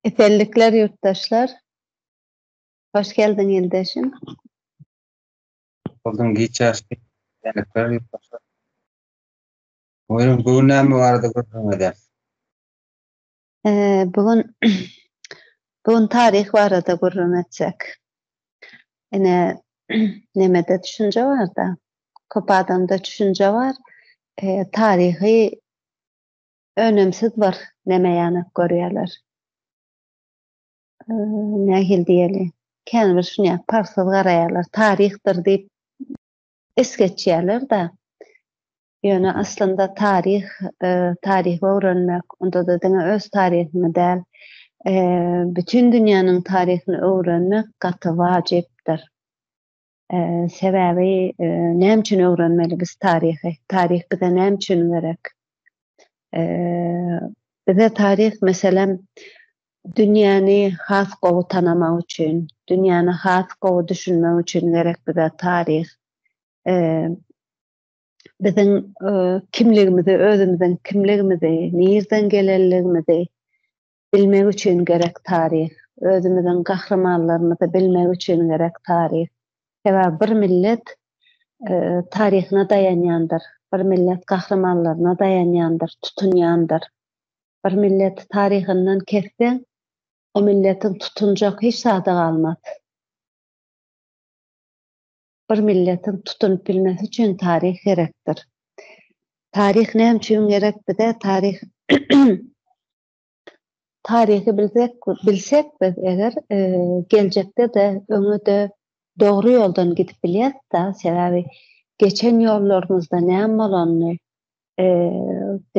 Esenlikler ýurtdaşlar. Hoş geldiň ildeşim. Bolduň giç ýaşly. Esenlikler ýurtdaşlar. Buyurun bu gün näme barada gürrüň eder? Ee, bu gün bu gün taryh barada gürrüň etsek. Ine nemede düşünje bar da. Köp adamda düşünje bar. Ee, taryhy önümsiz bir neme ýanak görýärler. Nähili diýeli? Kän bir şuny parsyz garaýarlar. Taryhdyr diýip es geçýärler-de. Ýöne aslynda taryh, e, taryhy öwrenmek, onda-da diňe öz taryhyňy däl, e, bütin dünýäniň taryhyny öwrenmek gaty wajypdyr. Sebäbi näme üçin öwrenmeli biz taryhy? Taryh bize näme üçin gerek? Bize taryh meselem dünýäni has gowy tanamak üçin, dünýäni has gowy düşünmek üçin gerek bize taryh. Biziň kimligimizi, özümiziň kimligimizi, nirden gelenligimizi, Bilmek üçin gerek taryh. Özümiziň gahrymanlarymyzy bilmek üçin gerek taryh. Sebäbi bir millet taryhyna daýanýandyr. Bir millet gahrymanlaryna daýanýandyr, tutunýandyr. Bir milleti taryhyndan kesseň, o milletiň tutunjak hiç zady galmaz. Bir milletiň tutunyp bilmesi üçin taryh gerekdir. Taryh näme üçin gerek bize? Taryh Taryhy bilsek, bilsek biz eger geljekde-de, öňe-de dogry ýoldan gidip bilýäris-de, sebäbi geçen ýollarymyzda näme bolanyny,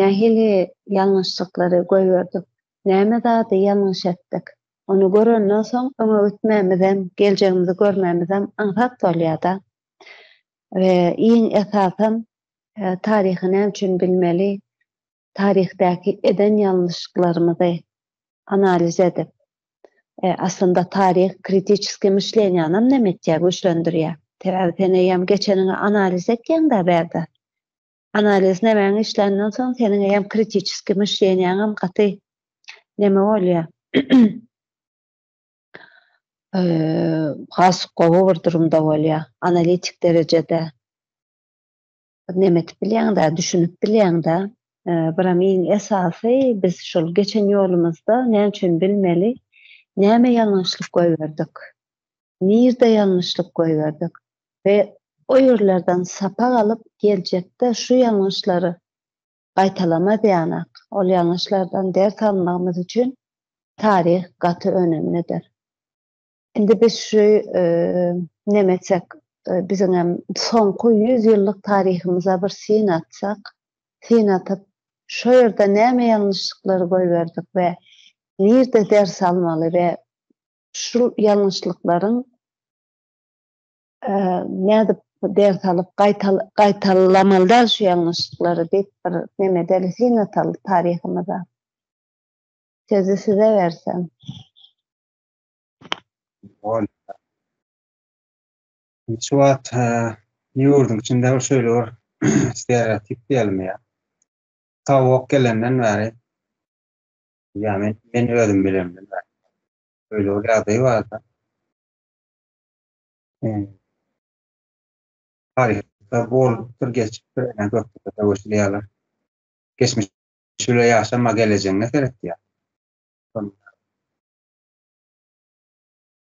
nähili ýalňyşlyklary goýberdik, näme zady ýalňyş etdik, ony görenden soň öňe gitmegimizem, geljegimizi görmegimizem aňsat bolýar-da. We iň esasam, taryhy näme üçin bilmeli? taryhdaky eden ýalňyşyklarymyzy analiz edip, aslynda taryh kritiçeskiý myşleniýanam näme etýär, güýçlendirýär. Sebäbi sen eýýäm geçeniňi analiz etýäň-dä bärde. Analiz nämäňi işländen soň seniň eýýäm kritiçeskiý myşleniýäňem gaty näme bolýar. Has gowy bir durumda bolýar, analitik derejede. Neme edip bilýäňdä, düşünip bilýäňdä. Biram iň esasy biz şol geçen ýolumyzda näme üçin bilmeli, näme ýalňyşlyk goýberdik, nirde ýalňyşlyk goýberdik we o ýerlerden sapak alyp geljekde şu ýalňyşlary gaýtalamazýanak, ol ýalňyşlardan ders almagymyz üçin taryh gaty önemlidir. Indi biz şu neme etsek, biziň hem soňky ýüz ýyllyk taryhymyza bir syn atsak, syn atyp, şo ýerde näme ýalňyşlyklary goýberdik we nirde ders almaly we şu ýalňyşlyklaryň nädip ders alyp gaýtalamaly däl şu ýalňyşlyklary diýip bir neme edeli syn ataly taryhymyza. Sözi size bersem. Ol. Şu wagt ýurduň içinde şeýle bir stereotip diýelim ýa. Tawuk gelenden bäri ýa men, men özüm bilemden bäri. Öýle bir ýagdaý barda. Taryhda bolupdyr, geçipdir, ene gökde söweşilýärler. Geçmiş şeýle ýaşama gelejegiňe seret ýa.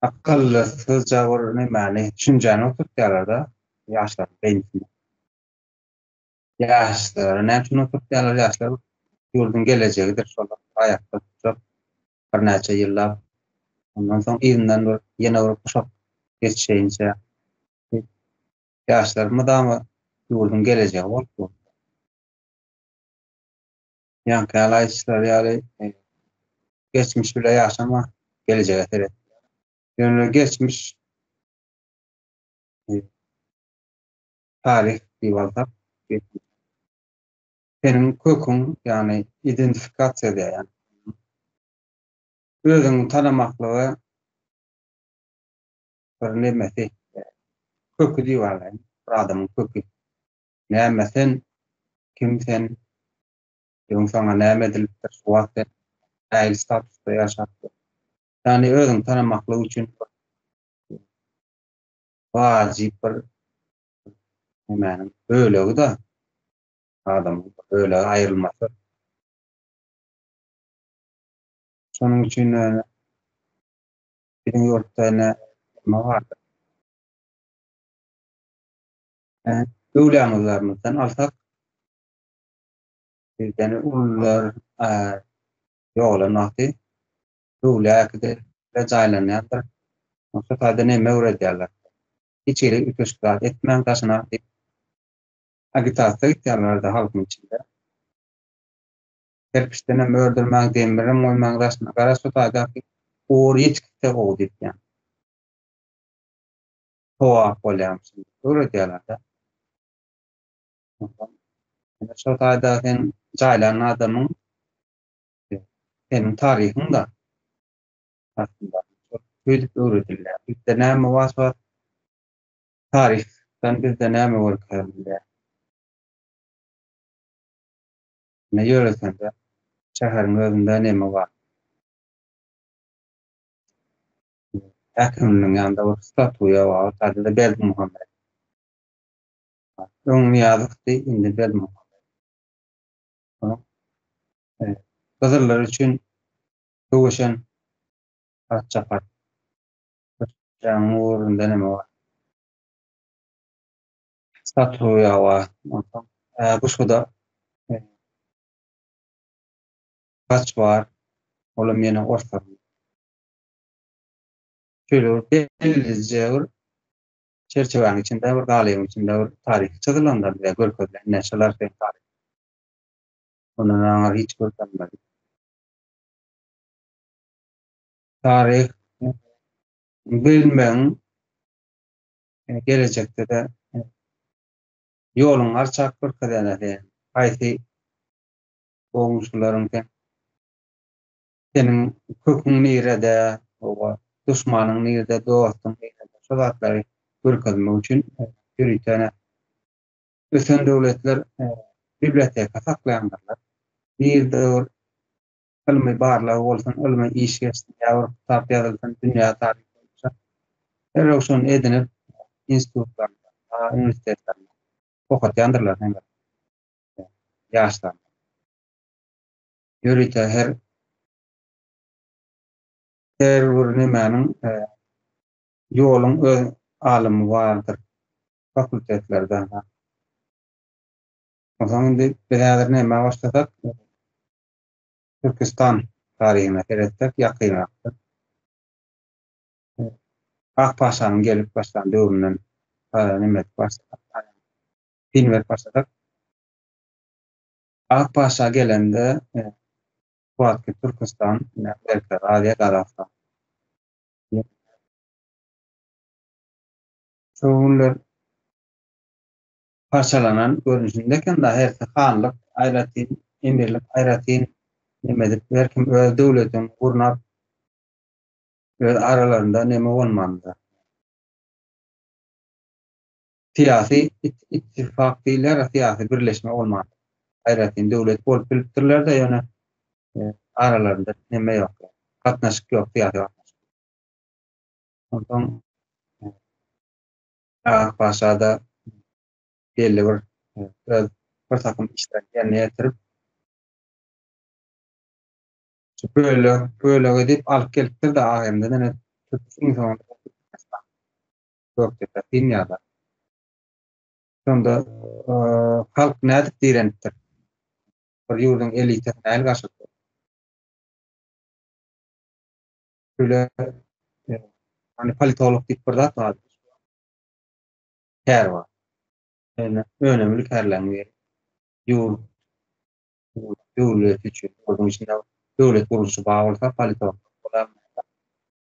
Akylly gyzja bir nämäni düşünjäni oturtýalarda ýaşlaryň beýnisine. Ýaşlary näme üçin oturtýarlar ýaşlar ýurduň gelejegidir şolar aýakda durjak birnäçe ýyllap ondan soň yzyndan bir ýene bir guşak geçişeýinçä ýaşlar mydama ýurduň gelejegi bolup dur. Ýaňky ýaly aýdýşlary ýaly geçmiş bile ýaşama, gelejege seret. Ýöne geçmiş taryh diýip alsak, seniň köküň, ýagny identifikasiýa diýýän. Özüňi tanamaklygy bir nemesi, köki diýip alaýyn, bir adamyň köki. Näme sen? Kim sen? Öň saňa näme edilipdir? Şu wagt sen nähili statusda ýaşapdyr? Ýagny özüňi tanamaklyk üçin wajyp bir nämäniň bölegi-de adamyň bölegi aýrylmasy. Şonuň üçin biziň ýurtda ene nima bardyr? öwlaňyzlarymyzdan alsak, bizden ulular ýogalan wagty öwläkde jaýlanýardyr. Şo taýda näme öwredýärler? Hiç hili üýtgeşik zat etmäň daşyna diýip, agitasiýa gitýärlerdi halkyň içinde. Kerpiçdenem ördürmäň, demirem goýmaň daşyna. Gara şu taýdaky ugur ýetikse gowy diýip ýa. Howa bolýan şunda öwredýärler-de. Onsoň ine şo taýda sen jaýlan adamyň seniň taryhyň-da aslynda öýdüp öwredilýär. Bizde näme was bar? Taryhdan bizde näme görkezilýär? Ine ýöresende şäheriň özünde neme bar? häkiminiň ýanynda bir statuýa bar, ady-da Berdimuhamet. Öň Nyýazowdy, indi Berdimuhamet. Onuň gyzyllar üçin söweşen parça-parça jaňyň ugrunda näme bar? Statuýa bar. Onsoň bu şuda gaç bar, olam ýene orslaryň. şeýle bir belli jäwür çerçewäniň içinde bir galyň içinde bir taryh çyzylanlar bize görkezilen näçeler sen taryh. Ondan aňa hiç görkezmedi. Taryh bilmeň e, gelecekde de e, ýoluň arçak görkezene de haýsy goňşularyň sen Seniň köküň nirede, hawa, duşmanyň nirede, dostuň nirede, şo zatlary görkezmek üçin ýöritene ösen döwletler biblioteka saklaýandyrlar. Nirede bir ylmy barlag bolsun, ylmy iş geçsin ýa bir kitap ýazylsyn dünýä taryhy boýunça, derrew şony edinip, institutlarynda, uniwersitetlerinde okatýandyrlar heňňe ýaşlaryna. ýörite her her bir nemäniň ýoluň öz alymy bardyr fakultetlerde. Onsoň indi biz häzir nämä başlasak, Türkistan taryhyna seretsek ýakynrakdyr. Akpaşanyň gelip başlan döwründen neme edip başlasak, film edip başlasak, Akpaşa gelende Kuwwatly Türküstan Merkezi Aziýa Gazagystan Şo günler parçalanan görnüşinde eken da hersi hanlyk aýratyn emirlik aýratyn neme edip her kim öz döwletini gurnap öz aralarynda neme bolmandyr. Syýasy ittifak diýilýär, syýasy birleşme bolmandyr. Aýratyn döwlet bolup bilipdirler-de, ýöne aralarynda neme ýok, gatnaşyk ýok, syýasy gatnaşyk. Onsoň Agat paşa-da belli bir öz bir takym işlerini ýerine ýetirip, bölek-bölek edip alyp gelipdir-de, Agendeden edip, Gökdepe himiýada. Şonda halk nädip direnipdir? Bir ýurduň elitasy näl gaşypdyr? Şöyle e, hani politolog diýip bir zat bar. Kär bar. Yani önemli kärleň bir ýurt döwlet üçin, ýurduň içinde döwlet gurluşy bar bolsa politolog bolar.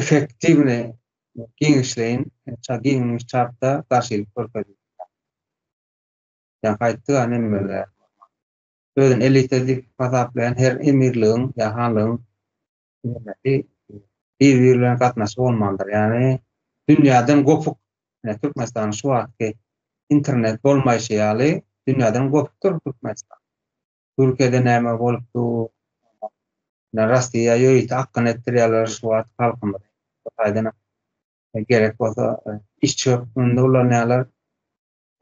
Efektiwny giňişleýin ça giňmiş çapda garşylyk görkezýär. Ýa-ha aýtdy-a Nemmerge. Özüni elita diýip hasaplaýan her emirligiň ýa hanlygyň nemesi bir-biri bilen gatnaşygy bolmalydyr. Ýagny dünýäden gopuk. Ine Türkmenistanyň şu wagtky internet bolmaýşy ýaly dünýäden gopukdyr Türkmenistan. Türkiýede näme bolup dur? Ýa Rossiýa ýörite akgyn etdirýärler şu wagt halkymyzy bu taýdan gerek bolsa işçi hökmünde ulanýarlar.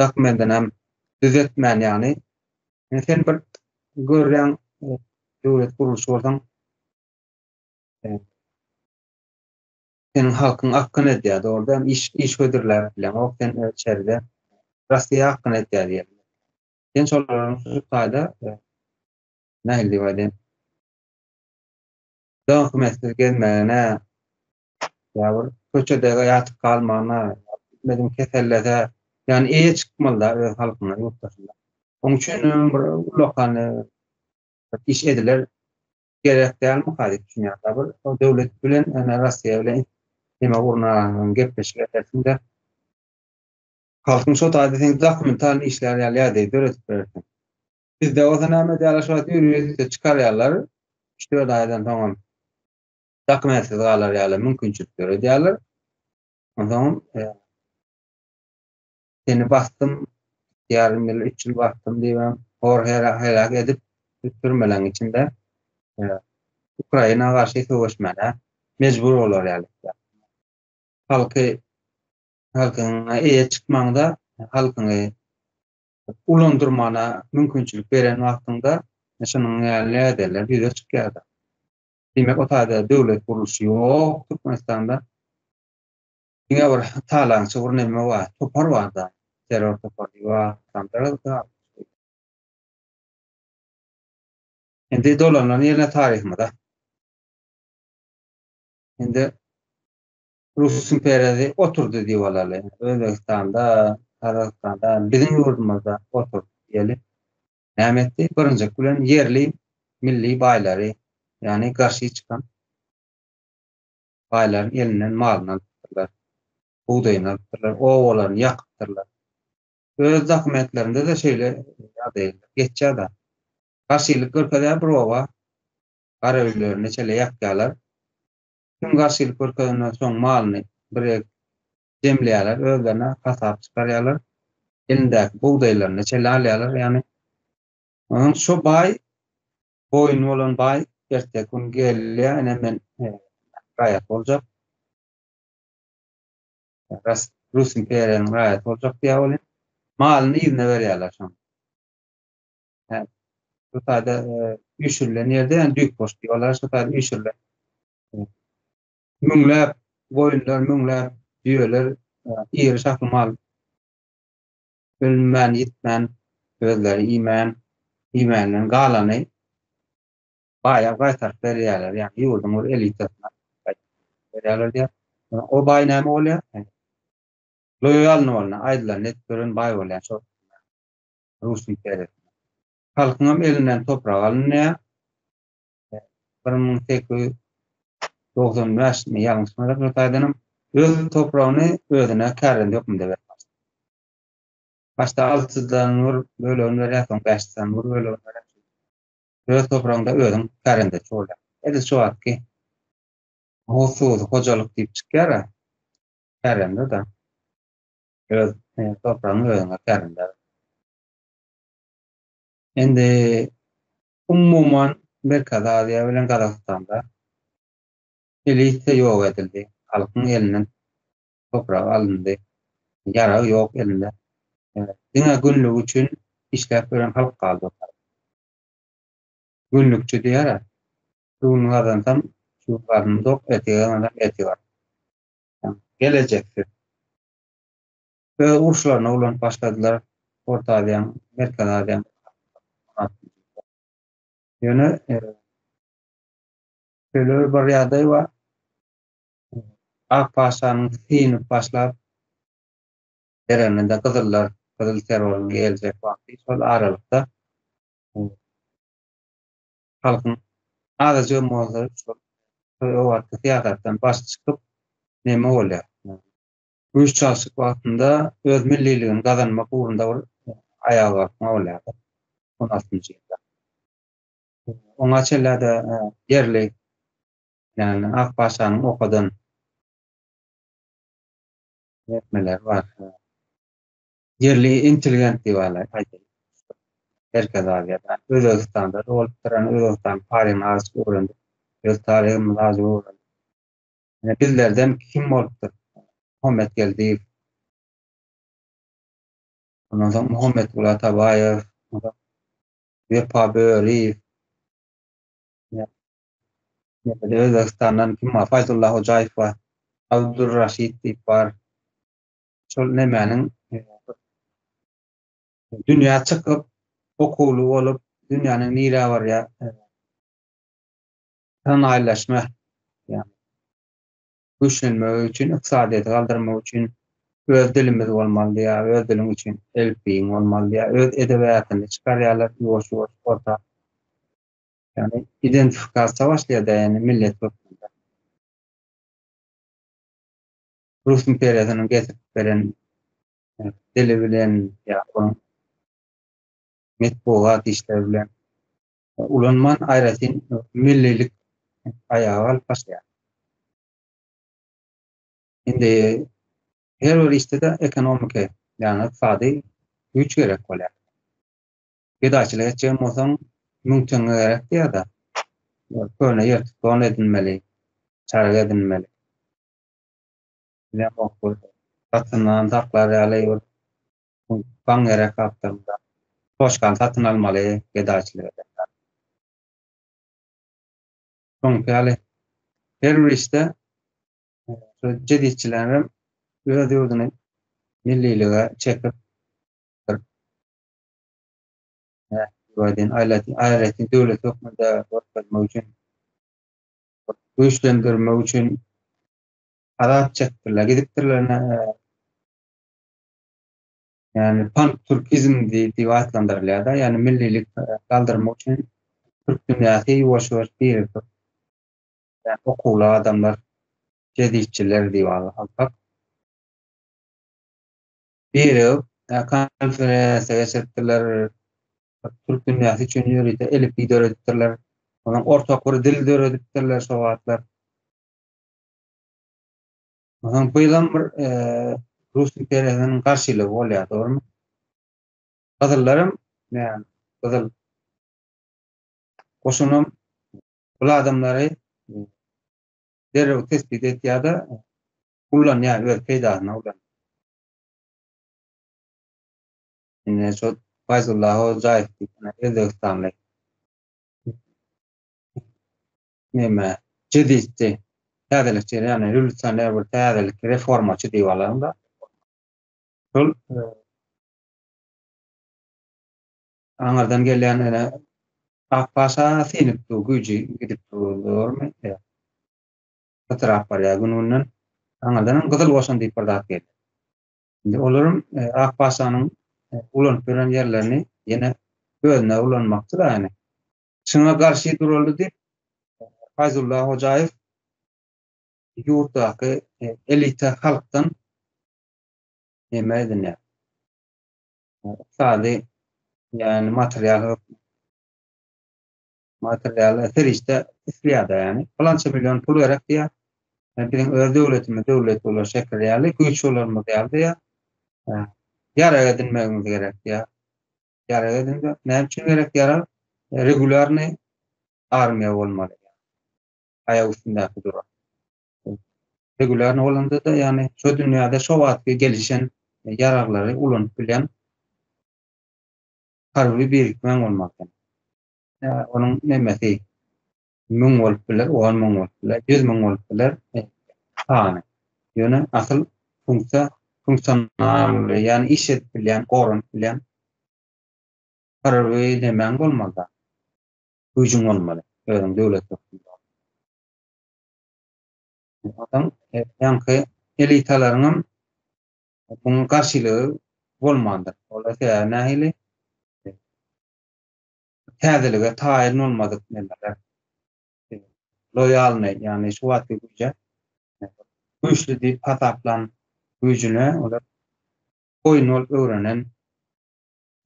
Dokumentini hem düzetmän ýagny sen bir görýän döwlet gurluşy bolsaň seniň halkyň akgyn edýär dogrudan iş iş hödürläp bileňok sen içeride Rossiýa akgyn edýär diýýär. Sen şolaryň şu taýda nähili diýip aýdaýyn? Dönk-mesdir gezmegine, ýa bir köçede ýatyp galmagyna, bilmedim kesellese, ýagny eýe çykmaly-da öz halkyna, ýurtdaşyna. Onuň üçin hem bir ullakan iş ediler gerek dälmika diýip düşünýän. Bir döwlet bilen, ýagny Russiýa bilen neme gurnaň, gepleşik edersiň-de. Halkyň şo taýda seň dokumentalny işlerini ýaly ýagdaýy döredip berersiň. Bizde bolsa näme edýärler şu wagt uniwersitet çykarýarlar, üç-dört aýdan soňam dokumentsiz galar ýaly mümkinçilik döredýärler. Onsoňam seni basdym, ýarym ýyl, üç ýyl basdym diýibem hor heläk edip türmeleň içinde Ukraina garşy söweşmäne mejbur bolar ýaly. Halky Halkyňa eýe çykmaňda, halkyňy ulandyrmana mümkinçilik beren wagtyňda şunuň ýaly näderler ýüze çykýar-da. Diýmek, o taýda döwlet gurluşy ýok Türkmenistanda. Diňe bir talaňçy bir näme bar, topar bar-da, terror topary bar. Indi dolanlany ýene taryhymyza. Indi Rus imperiýasy oturdy diýip alaly. Özbegistanda, Gazagystanda, biziň ýurdumyzda oturdy diýeli. Näme etdi? Birinjik bilen ýerli milli baýlary, ýagny garşy çykan baýlaryň elinden malyny alypdyrlar, bugdaýyny alypdyrlar, obalaryny ýakypdyrlar. Öz dokumentlerinde-de şeýle ýagdaýlar geçýär-de. Garşylyk görkezýär bir oba, gara öýlerini şeýle ýakýarlar. Kim garşylyk görkezende şoň malyny birek jemleýärler, özlerine hasap çykarýarlar, elindäki bugdaýlaryny çele alýarlar, ýagny onuň şo baý boýun bolan baý erteki gün gelýär, ine men raýat boljak, ras Rus imperiýasynyň raýaty boljak diýýär ol hem malyny yzyna berýärler şoň. Yani, şu taýda e, üýşürilen ýerde yani düýk boş diýýärler, şu taýda üýşürilen. E, müňläp goýunlar, müňläp düýeler, e, iri şahly mal ölmän, ýitmän, özleri iýmän, iýmänden galany baýa gaýtaryp berýärler, ýagny ýurduň bir elitasyna berýärler diýär. O baý näme bolýar? Loýalny bolna, aýdylanyny edip gören baý bolýar. Şol Russiýa seretme. Halkyňam elinden toprak alynýar. Bir müň sekiz ýüz dogsan bäş mi ýalňyşmadyk bir taýdanam öz topragyny özüne kärende hökmünde berýär. Başda altydan bir bölegini berýär, soň bäşden bir bölegini berýär. Öz topragyňda özüň kärende bolýar. Edil şu wagtky Howsuz hojalyk diýip çykýar-a, kärende-de. Öz topragyňy özüňe kärinder. Indi umuman Merkezi Aziýa bilen Gazagystanda elite ýok edildi. Halkyň elinden toprak alyndy. Ýarag ýok elinde. Diňe günlük üçin işläp ýören halk galdy. Günlükçi diýýär-ä. Şu gün gazansam, şu gün garnym dok, ertire gazansam, ertir garnym. gelejeksiz öz uruşlaryna ulanyp başladylar Orta Aziýanyň, Merkezi Aziýanyň Ýöne şöyle bir ýagdaý bar. Ak paşanyň synyp başlap bereninde gyzyllar, gyzyl terroryň geljek wagty şol aralykda halkyň adaja mozleri şol öwalky syýasatdan baş çykyp neme bolýar? Güýç çalşyk wagtynda öz milliligini gazanmak ugrunda bir aýaga galkma bolýar-da on altynjy ýylda. Oňa çenlerde ýerli ýagny ak paşanyň okadan etmeleri bar. Ýerli intelligent diýip alaýyk, aýdaýyn. Merkezi Aziýada, Özbegistanda dogulupdyr, ýöne Özbegistanyň taryhyny azajyk öwrendik. Öz taryhymyzy azajyk öwrendik. Ýöne bizlerden kim bolupdyr? Muhammet Geldiýew. Ondan soň Muhammetgul Atabaýew, Wepa Böriýew. Ýa-da Özbegistandan kim bar? Faýzulla Hojaýew bar. Abdulraşid diýip bar. şol nemäniň dünýä çykyp, okuwly bolup, dünýäniň nirä barýar, sanaýlaşma, ýagny güýçlenmegi üçin, ykdysadyýeti galdyrmak üçin öz dilimiz bolmalydy ýa öz diliň üçin elipbiýiň bolmalydy ýa öz edebiýatyny çykarýarlar ýuwaş-ýuwaş orta. Ýagny identifikasiýa başlaýar-da, ýagny millet hökmünde. Rus imperiýasynyň getirip beren e, dili bilen ýa onuň metbugat işleri bilen e, ulanman aýratyn millilik aýaga alyp başlaýar. Indi her bir işde de ekonomiki, ýagny ykdysady güýç gerek bolýar. Gedaçylyk etjek bolsaň, müň teňňe gerek diýýär-de. Köne ýertik don edinmeli, çarga edinmeli. Ýapyk bir satyndan saklar ýaly bir baň gerek gapdalynda. Poçkany satyn almaly gedaçylyk eden zat. Şoňky ýaly her bir işde şu jeditçilerem öz ýurduny millilige çekip bir nähili diýip aýdaýyn aýratyn döwlet hökmünde görkezmek üçin güýçlendirmek üçin azat çekdirler, gidipdirler ene, yani pan-türkizm diýip atlandyrylýar-da, yani millilik galdyrmak üçin türk dünýäsi ýuwaş-ýuwaş birikip, yani okuwly adamlar, jeditçiler diýip alyp, birigip, konferensiýa geçiripdirler. Türk dünýäsi üçin ýörite elipbiý döredipdirler. Onuň ortak bir dil döredipdirler şo wagtlar. Ondan bu ýylam bir e, Rus imperiýasynyň garşylygy bolýar, dogrumy? Gyzyllaram, yani, gyzyl goşunam bul adamlary e, derrew tesbit etýär-de, Ullanýar öz peýdasyna ulanýar. Ine şo Faýzulla Hojaýew diýen özbegistanly neme jeditçi täzelikçi ýagny rewolýusioner bir täzelik reformaçy diýip alaňda şol aňyrdan gelýän ene Akpaşa synyp dur güýji gidip dur. Dogrumy? pytrap barýar gün-günden. Aňyrdanam Gyzyl goşun diýip bir zat gelýär. Indi olaram e, Ak paşanyň e, ulanyp ýören ýerlerini ýene özüne ulanmakçy da ýani. Şuňa garşy duraldy diýip e, Fayzulla Hojaýew ýurtdaky e, elita halkdan näme edinýär? Ykdysady ýani material Materialy serişde isleýärdi ýani. Pylança million pul gerek diýýär. Biziň öz döwletimiz döwlet bolar şeker ýaly, güýç bolarymyz ýaly diýýär. Ýarag edinmegimiz gerek diýýär. Ýarag edinmek näme üçin gerek ýarag? Regulýarny armiýa bolmaly. Aýak üstündäki duran. Regulýarny bolanda-da ýani şu dünýäde şu wagtky gelişen ýaraglary ulanyp bilýän harby birikmäň bolmaly. Onuň nemesi müň bolup biler, on müň bolup biler, ýüz müň bolup biler sany. Ýöne asyl funksiýa funksional, ýagny iş edip bilýän, goranyp bilýän bir nemäň bolmaly-da, güýjüň bolmaly, özüň döwlet hökmünde. Onsoň ýaňky elitalaryň hem muňa garşylygy bolmandyr. Olar sebäbi nähili? täzelige taýyn bolmadyk nemeler, loýalnyý, ýagny şu wagtky güýje güýçli diýip hasaplan güýjüne olar boýun bolup öwrenen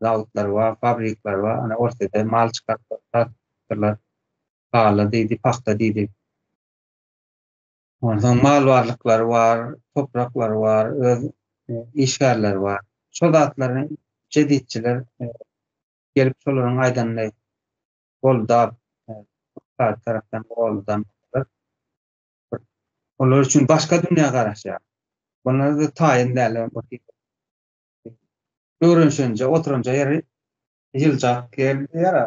zawodlar bar, fabrikler bar, ana Orsýetde mal çykaryp satdylar, haly diýdi, pagta diýdi. Onsoň mal barlyklary bar, topraklary bar, öz işgärleri bar. Şol zatlaryň jeditçiler Gelip şolaryň aýdanyny goldap, ussat tarapdan goldan bolsalar, bir olar üçin başga dünýä garaşýar. Bunlar-da taýyn däl, öwrenişenje, oturanja ýeri ýyljak ýer diýýär-ä,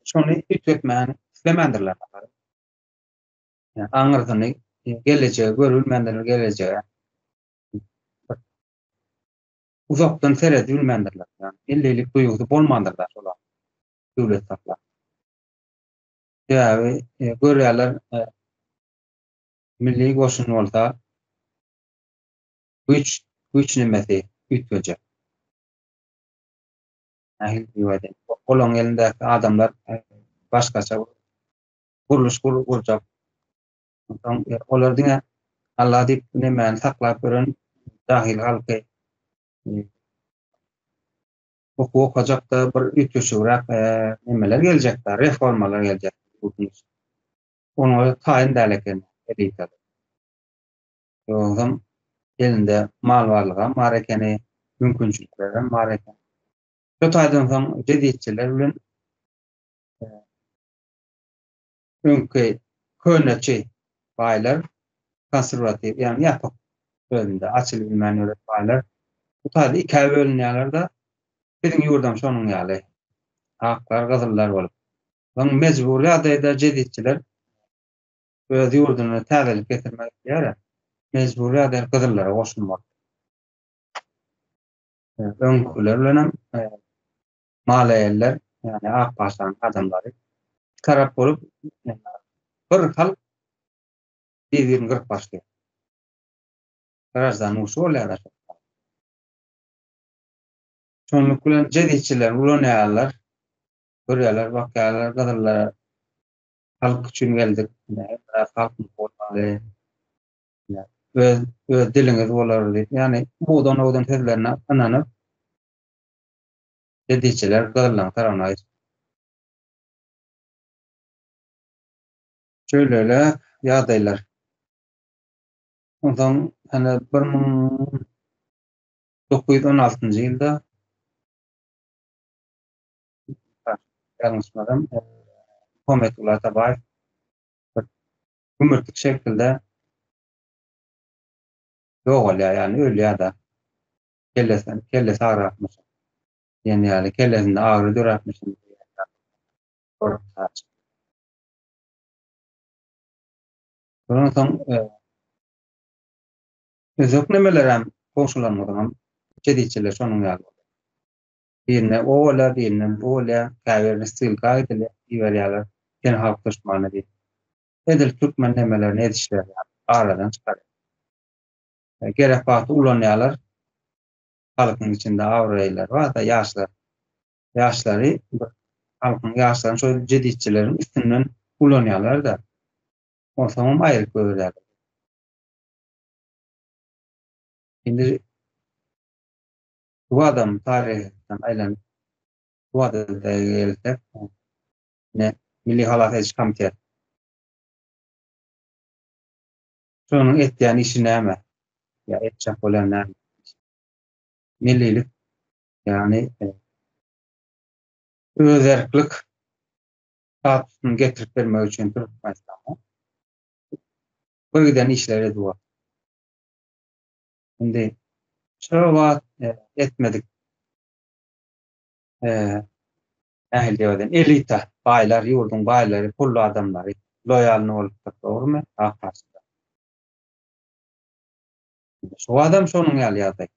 şony üýtgetmäni islemändirler. Aňyrsyny, gelejegi görübilmändirler, gelejege. uzakdan seredip bilmändirler. Ýagny elleýlik duýgusy bolmandyr da şolar döwlet saklap. Sebäbi e, görýärler e, milli goşun bolsa güç güç nemesi üýtgejek. Ähli diýwäde. Olaň elindäki adamlar e, başgaça gurluş gurjak Onsoň olar diňe Alla diýip nemäni saklap ýören jahil halky okuw okajakda bir üýtgeşigräk nemeler geljekdi, reformalar geljek. Onuň özi taýyn däl eken elita. Ýogsam elinde mal barlygam bar ekeni, mümkinçiliklerem bar ekeni. Şu taýdan soň jeditçiler bilen Öňki köneçi baýlar, konserwatiw, ýagny ýapyk özünde, açylyp bilmän ýören baýlar bu taýda ikä bölünýärler-de, biziň ýurdam şonuň ýaly, aklar, gyzyllar bolup. Soň mejbury ýagdaýda jeditçiler öz ýurduna täzelik getirmek isleýärä, mejbury ýagdaýda gyzyllara goşulmaly. Öňküler bilen hem malaýaller, ýagny ak paşanyň adamlary iki tarap bolup, bir halk bir-birini gyryp başlaýar. Graždan urşy bolýar aşa. Şonluk bilen jezitçiler ulanýarlar, görýärler, bakýarlar, gyzyllar halk üçin geldik, biraz halk bolmaly, öz, öz diliňiz bolar diýip, ýagny budan-budan sözlerine ynanyp, Bediçiler gyzyllaň taragyna gaýdyp. Şöýleler ýagdaýlar. Onsoň ene bir müň dokuz ýüz on altynjy ýylda ýalňyşmasam Muhammetguly Atabaýew gümürtik şekilde ýogalýar, ýagny ölýär-de. kellesem, kellesi agrakmyşyn diýen ýaly, kellesinde agyry döräpmişin diýen ýaly gorap saçypdyr. Şondan soň öýjüklemelerem goňşularymyzyňam içe-diýçeleri şonuň ýaly bolýar. Birine o bolýar, birine bu bolýar, käbirine ssylka edilýär, iberýärler, sen halk duşmany diýip. Edil türkmen nemelerini edişleri ýaly, aradan çykarýar. Gerek wagty ulanýarlar. Halkyň içinde abraýlylary bar-da, ýaşlar. Ýaşlary bir halkyň ýaşlaryny şol jeditçileriň üstünden ulanýarlar-da. Onsoňam aýryp goýberýärler. Indi bu adam taryhdan aýlanyp, bu adada gelsek, ine, Milli halas ediş komiteti. Şonuň etýän işi näme? Ýa etjek bolýan näme? Millilik, ýagny özerklik statusyny getirip bermek üçin Türkmenistana bir giden işleri edip otyr. Indi şu wagt etmedik Nähili diýip aýdaýyn, elita, baýlar, ýurduň baýlary, pully adamlary loýalny bolupdyr, dogrumy? Ak haçlylar. Indi şu wagtam şonuň ýaly ýagdaý.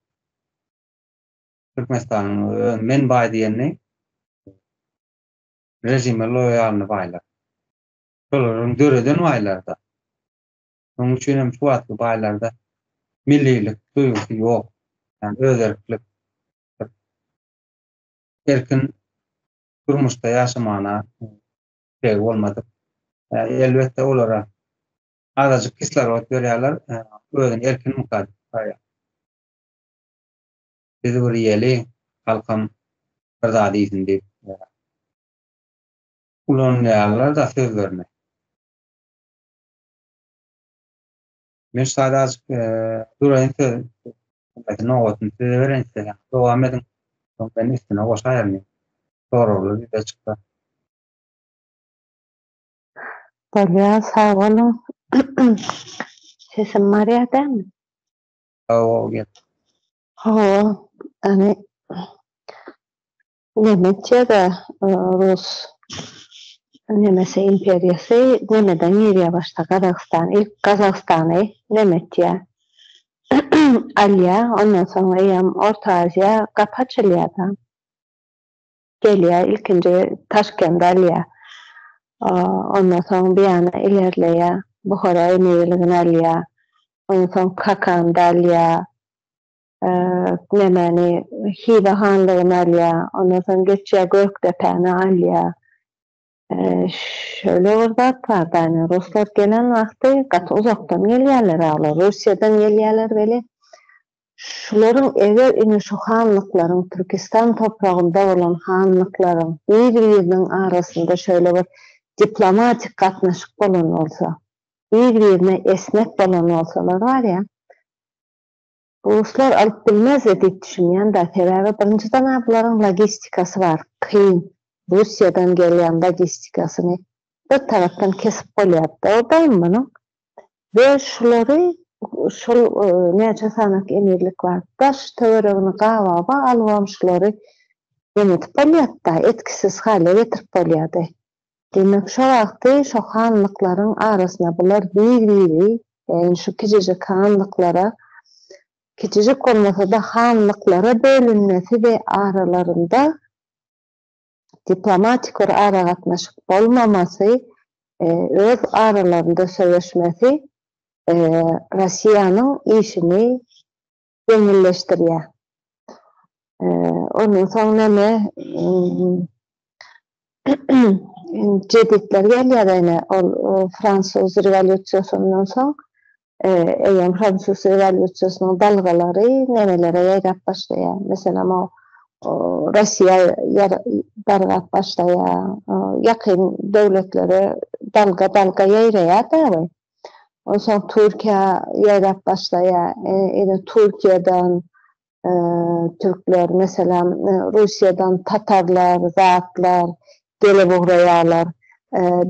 Türkmenistanyň öň men baý diýeni režime loýalny baýlar. Şolaryň döreden baýlary-da. Şonuň üçin hem şu wagtky baýlarda millilik duýgusy ýok. Ýagny özerklik erkin durmuşda ýaşamagyna tiregi bolmadyk. Elbetde, olara azajyk kislorod berýärler, özüni erkin mukaddes saýýar. Biz bir ýeli, halkam bir zat iýsin diýip ulanýarlar-da sözlerini. Men şaýda azk duraýyn söz. Aýdyň nowatyny size bereýin islesem. Dowam ediň. Soň men üstüne goşaýaryn. Soraglar ýüze çyksa. Bolýa sag boluň. Sesim barýa dämi? Hawa gel. Hawa. Ýani Nemes ýa-da Rus Nemes imperiýasy nämeden girýär başda Gazagystan ilk Gazagystany Nemesýa alýar ondan soň eýýam Orta Aziýa gapy açylýada gelýär ilkinji Taşkendi alýar ondan soň bu ýana ilerleýär Buhara emirligini alýar ondan soň Kakanda alýar nemäni, Hywa hanlygyny alýar, ondan soň geçýär Gökdepäni alýar. Şöyle bir zat bar da, ine, ruslar gelen wagty gaty uzakdan gelýärler-ä olar, Russiýadan gelýärler weli, şularyň eger ine şu hanlyklaryň, Türkistan topragynda bolan hanlyklaryň bir-biriniň arasynda şöyle bir diplomatik gatnaşyk bolan bolsa, bir-birine esnek bolan bolsalar barýa, Ruslar alyp bilmezdi diýip düşünýända, sebäbi birinji janablaryň logistikasy bar, kyn, Russiýadan gelýän logistikasyny bir tarapdan kesip bolýardy obaýyn munuň we şulary şol näçe sanak emirlik bar, daş töweregini gababa alybam şulary nemetip bolýardy-da, etkisiz halyýa getirip bolýardy. Demek şo wagty şo hanlyklaryň arasyna bular bir biri yani şu kijijik hanlyklara kijijik bolmasada hanlyklara bölünmesi we aralarynda diplomatik bir aragatnaşyk bolmamasy öz aralarynda söveşmesi Rossiýanyň işini Ýeňilleşdirýär. Ondan soň näme? Jeditler gelýär-de ine, ol fransuz rewolýusiýasyndan soň, eýýäm fransuz rewolýusiýasynyň dalgalary nerelere ýaýrap başlaýar? Meselem, o Russiýa dargap başlaýar, ýakyn döwletlere dalga-dalga ýaýraýar dagy. Onsoň Türkiýä ýaýrap başlaýar. Ine, Türkiýeden türkler, meselem, Russiýadan tatarlar, zatlar gelip ugraýarlar.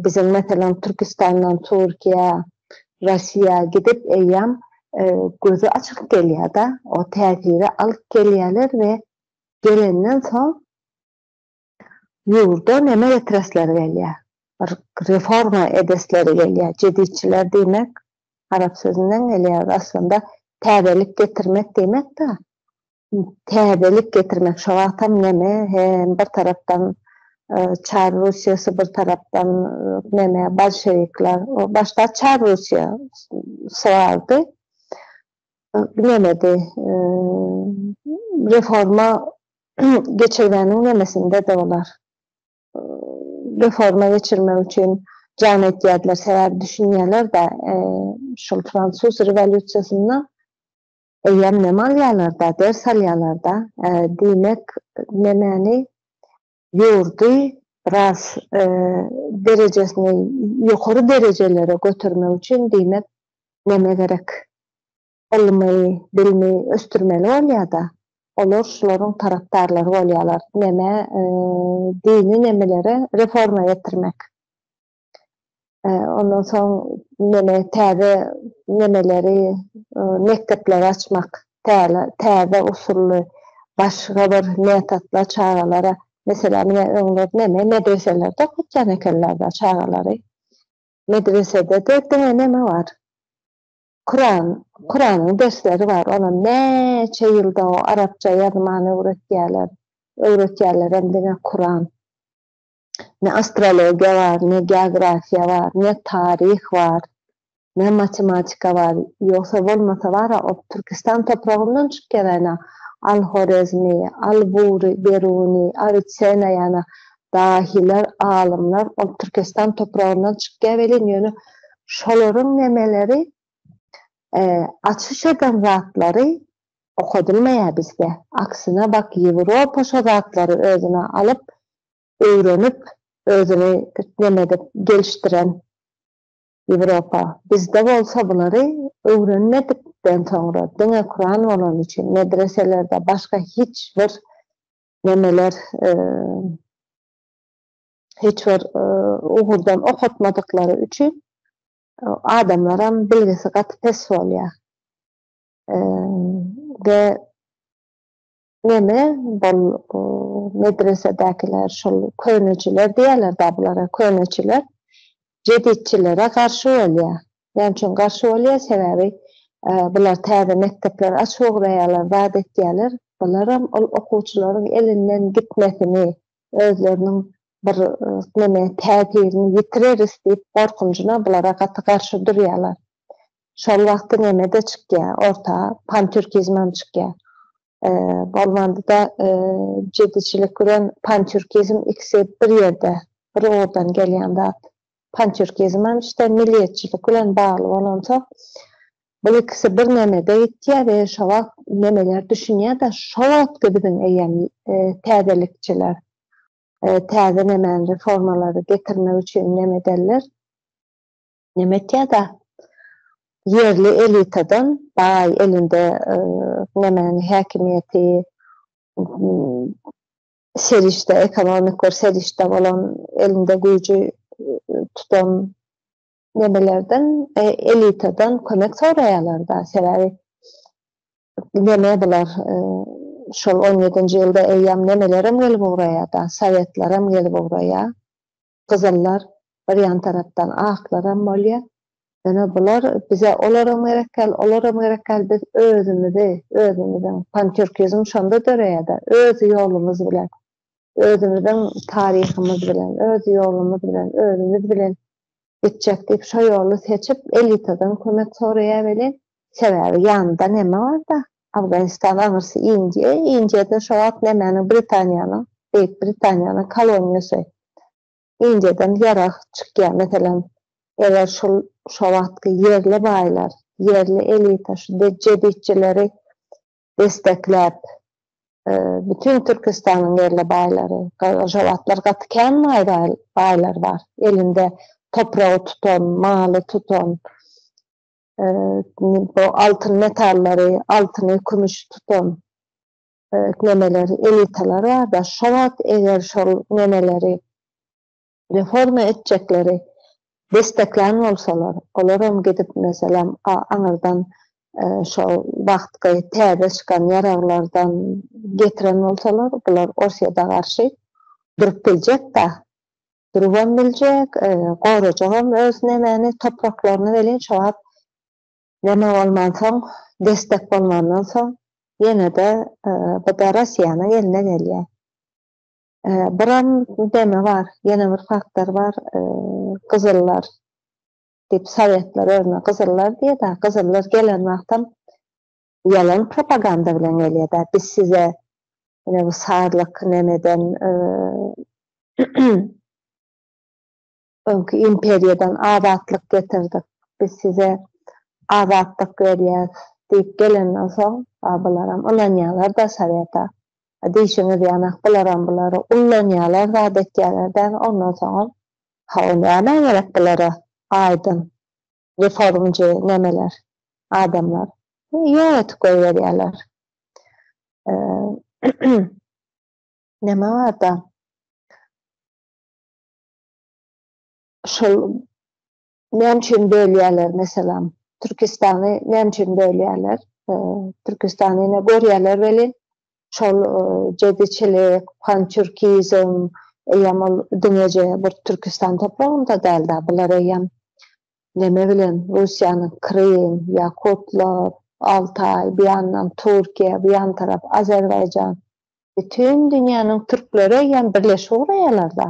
Biziň, meselem, Türkistandan Türkiýä, Russiýa gidip eýýäm gözi açyk gelýär-de, o täsiri alyp gelýärler we gelenden soň Ýurda neme getiresleri gelýär? Bir reforma edesleri gelýär. Jeditçiler diýmek arap sözünden gelýär. Aslynda täzelik getirmek diýmek-de. Täzelik getirmek şo wagtam neme hem bir tarapdan Çar Russiýasy bir tarapdan neme bolşewikler. Başda Çar Russiýa sygaldy. Nemedi. Reforma geçirgäniň nemesinde-de olar reforma geçirmek üçin jan etýärdiler, sebäbi düşünýärler-de, şol fransuz rewolýusiýasynda eýýäm nem alýarlar-da, ders alýarlar-da, diýmek, nemäni, ýurdy biraz derejesini ýokary derejelere götermek üçin, diýmek, neme gerek? Ylmy, bilimi ösdürmeli bolýar-da. Olar şularyň tarapdarlary bolýarlar. Neme, dini nemeleri reforma getirmek. Ondan soň neme, täze nemeleri, mekdepleri açmak, täze usully, başga bir metodlar çagalara. Meselem, ine, öňler neme, medreselerde okatýan ekenler-de çagalary. Medresede-de diňe neme bar. Kuran, Kuranyň dersleri bar, olam näçe ýylda o arapça ýazman öwretýäler, öwretýälerem diňe Kuran. Ne astrologiýa bar, ne geografiýa bar, ne taryh bar, ne matematika bar, ýogsa bolmasa bara o Türkistan topragyndan çyk geräýnä, Al-Horezmi, Al-Buri, Beruni, Awitsena ýana dahylar, alymlar ol Türkestan topragyndan çykýar welin, ýöne şolaryň nemeleri, açyş eden zatlary okadylmaýar bizde. Aksine, bak, Ýewropa şo zatlary özüne alyp, öwrenip, özüni neme edip, gelişdiren Ýewropa. Bizde bolsa bulary öwrenmedikden soňra, diňe Kuran bolany üçin, medreselerde başga hiç bir nemeler hiç bir ugurdan okatmadyklary üçin adamlaram bilgisi gaty pes bolýar. We neme bol medresedäkiler şol köneçiler diýerler-de bulara köneçiler jeditçilere garşy bolýar. Näme üçin garşy bolýar? Sebäbi bular täze mekdepleri açyoguraýarlar, zat etýärler. Bularam ol okuwçylaryň elinden gitmesini, özleriniň bir neme täsirini ýitireris diýip gorkunjyna bulara gaty garşy durýarlar. Şol wagty neme-de çykýar orta, pantürkizmem çykýar. Bolmanda-da jediçilik bilen pantürkizm ikisi bir ýerde, bir ugurdan gelýän zat. pantýurkizm hem işte milliýetçilik bilen bagly bolansoň, bul ikisi bir nemede gitýär we şo wagt nemeler düşünýär-de, şo wagtky biziň eýýäm täzelikçiler täze nemäni, reformalary getirmek üçin neme ederler? Neme etýär-de, ýerli elitadan, baý elinde nemäni, häkimiýeti, serişde, ekonomik bir serişde bolan elinde güýji e, tutan nemelerden, e, elitadan kömek soraýarlar-da. Sebäbi neme bular? E, şol 17-nji ýylda eýýäm nemelerem gelip ugraýar-da, sowetlerem gelip ugraýar. gyzyllar, bir ýan tarapdan aklaram bolýar. Ýöne bular bize olaram gerekkäl, olaram gerekkäl, biz özümizi, özümiziň, pantýurkizm şonda döreýär-de, öz ýolumyz bilen, özümiziň taryhymyz bilen, öz ýolumyz bilen, özümiz bilen gitjek diýip, şo ýoly seçip, elitadan kömek soraýar welin, sebäbi ýanynda näme bar-da, Afganistan aňyrsy Indiýa, Indiýada şo wagt nämäniň Britaniýanyň, Beýik Britaniýanyň koloniýasy. Indiýadan ýarag çykýar, meselem, eger şul şo wagtky ýerli baýlar, ýerli elita şu de jeditçileri destekläp, bütin Türkistanyň ýerli baýlary, şo wagtlar gaty kän baý-baý baýlar bar, elinde topragy tutan, maly tutan, bu altyn metallary, altyny, kümüşi tutan nemeler, elitalar bar-da, şo wagt eger şol nemeleri reforma etjekleri desteklän bolsalar, olar hem gidip, meselem, aňyrdan şo wagtky täze çykan ýaraglardan getiren bolsalar, bular Orsýete garşy durup biljek-dä. durubam biljek, gorajagam öz nemäni, topraklaryny welin şo wagt neme bolmansoň, destek bolmandan soň ýene-de bu-da Rossiýanyň eline gelýär. Biram neme bar, ýene bir faktor bar, gyzyllar diýip, sowetler özüne gyzyllar diýýär-de, gyzyllar gelen wagtam Ýalan propaganda bilen gelýärda biz size ine bu sazlyk nemeden öňki imperiýadan azatlyk getirdik biz size azatlyk berýäs diýip gelenden soň a bularam ynanýalarda soweta a diýşiňiz ýanak bularam bulary ullanýalar zat etýäler däl ondan soňam hawa näme gerek bulara aýdyň Indi forumçy nemeler, adamlar ýok etip goýberýärler. Neme bar-da? Şol näme üçin bölýärler meselem? Türkistany näme üçin bölýärler? Türkistany ýene görýärler welin, şol jediçilik, pançurkizm eýýäm ol diňeje bir Türkistan topragynda däl-de, bular eýýäm neme bilen, Russiýanyň Krym, Ýakutlar, Altaý, bu ýandan Türkiýe, bu ýan tarap Azerbaýjan, bütin dünýäniň türkleri eýýäm birleşip ugraýarlar-da.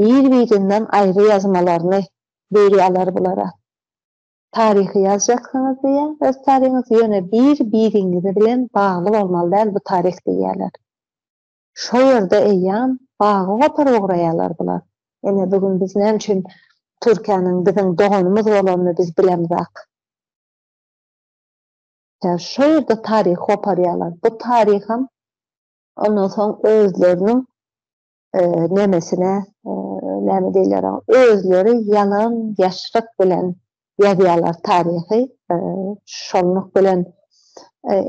Bir-birinden aýry ýazmalaryny beri alar bulara. Taryhy ýazjaksyňyz diýýä, öz taryňyzy, ýöne bir-biriňizi bilen bagly bolmaly däl bu taryh diýýäler. Şo ýerde eýýam bagy gopar ugraýalar bular. Ine, bu gün biz näme üçin Türkiýäniň biziň doganymyz bolanyny biz bilemzak. Ýa şo ýerde taryh goparýalar. Bu taryham ondan soň özleriniň nemesine näme diýler özleri ýalan ýaşryk bilen ýazýarlar taryhy şonluk bilen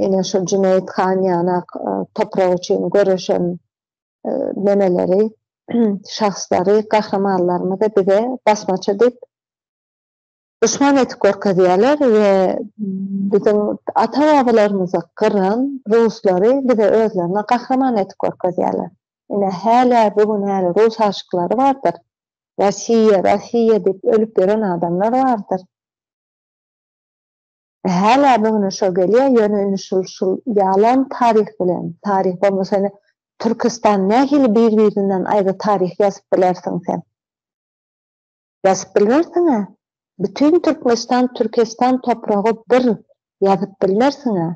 ene şu Jüneýit han ýana toprak üçin göreşen nemeleri şahslary gahrymanlarymyzy bize basmaçy diýip duşman edip görkezýärler we biziň ata-babalarymyzy gyran ruslary bize özlerine gahryman edip görkezýärler. Ine, hälä bu gün häli rus aşyklary bardyr. Rossiýa, Rossiýa diýip ölüp ýören adamlar bardyr. Hälä bu güne şo gelýär, ýöne indi şul şul ýalan taryh bilen, taryh bolmasa indi Türküstan nähili bir-birinden aýry taryh ýazyp bilersiň sen? Ýazyp bilmersiňä? Bütin Türkmenistan Türkestan topragy bir ýazyp bilmersiňä?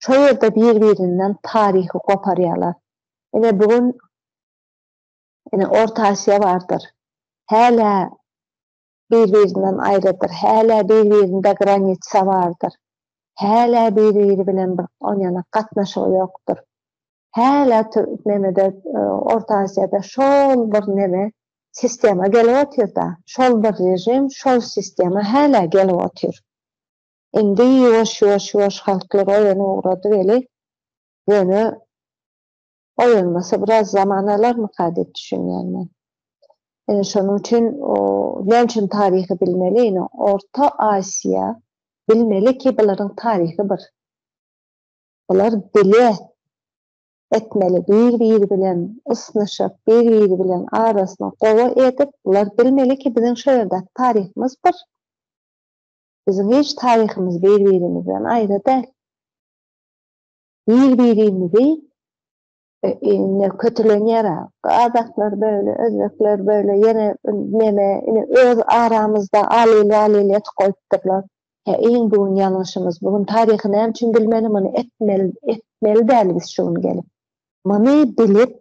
Şo ýerde bir birinden taryhy goparýalar. Ine bu gün ine Orta Asiýa bardyr. Hälä bir-birinden aýrydyr, hälä bir-birinde granitsa bardyr, hälä bir-biri bilen bir onýanak gatnaşygy ýokdur. Hälä nemede, Orta Aziýada şol bir neme, sistema gelip otyr-da, şol bir režim, şol sistema hälä gelip otyr. Indi ýuwaş-ýuwaş-ýuwaş halklar oýanyp ugrady weli, ýöne Oýanmasa biraz zaman alarmyka diýip düşünýän men. Ine şonuň üçin näme üçin taryhy bilmeli? Ine Orta Aziýa bilmeli ki bularyň taryhy bir. Bular bile etmeli bir biri bilen ysnyşyp bir biri bilen arasyny gowy edip bular bilmeli ki biziň şo ýerdäki taryhymyz bir. Biziň hiç taryhymyz bir birimiz bilen aýry däl. Bir-birimizi indi kötülenýär a. Gazaklar böyle, özbekler böyle, ýene neme, ine öz aramyzda alyl-walyl edip goýupdyrlar. Hä, iň bu gün ýalňyşymyz, bu gün taryhy näme üçin bilmeli, muny etmeli, etmeli däl biz şu gün gelip. Muny bilip,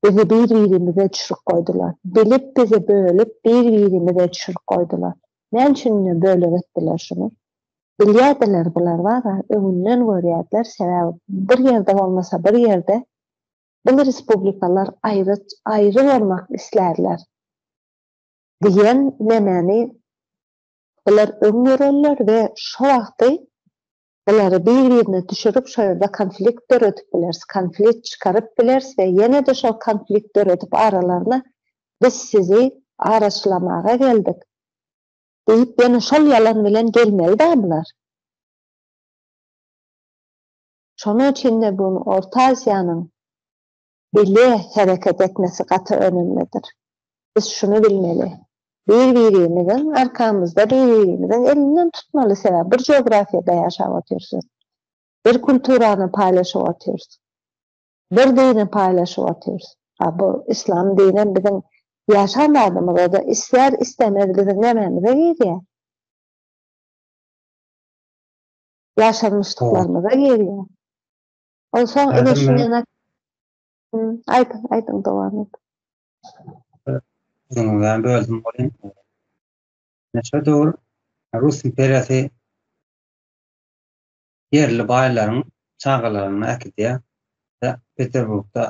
Bizi bir-birimize çürük goýdular. Bilip bizi bölüp, bir-birimize çürük goýdular. Näme üçin ine bölek etdiler şuny? Bilýärdiler bular wara, öňünden görýärdiler, sebäbi bir ýerde bolmasa bir ýerde bil respublikalar aýry aýry bolmak islärler diýen nemäni bular öň görenler we şo wagty Bulary bir-birine düşürip şo ýerde konflikt döredip bileris, konflikt çykaryp bileris we ýene-de şol konflikt döredip aralaryna biz sizi araçlamaga geldik diýip ýene şol ýalan bilen gelmeli-dä bular. Şonuň üçin-de bu Orta Aziýanyň Bile hereket etmesi gaty önümlidir. Biz şuny bilmeli, bir-birimiziň arkamyzda bir-birimiziň elinden tutmaly, sebäbi bir geografiýada ýaşap otyrsyň, bir kulturany paýlaşyp otyrsyň, bir dini paýlaşyp otyrsyň. A bu yslam dinem biziň ýaşan zadymyza-da ister-istemez biziň nämämize girýär? Ýaşanmyşlyklarymyza girýär. Ol soň ine şuny aýt, aýdyň dowam et. Sözüňizden böldüm welin. Neçe döwür Rus imperiýasy ýerli baýlaryň çagalaryny äkidýär we Peterburgda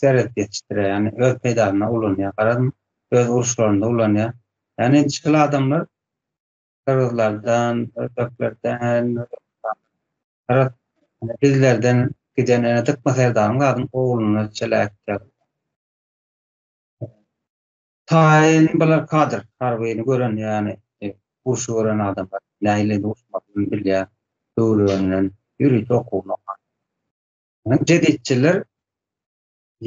serhet ýetişdirýär, ýagny öz peýdasyna ulanýar. Garaz, öz uruşlarynda ulanýar. Ýagny şol adamlar Gyrgyzlardan, özbeklerden, özbekistandan, ine, bizlerden giden ene Dykma serdaryň zadyň ogluna çeläk ýaly. Taýyn bular kadr, harbyny gören ýany, e, urşy gören adamlar, nähili urşmalydygyny bilýän, döwrebenden ýörite okuwyny okan. Ine, jeditçiler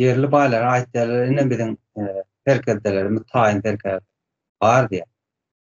ýerli baýlara aýtýarlar, ine, biziň, e, serkerdelerimiz, taýyn serkerdelerimiz bar diýýär.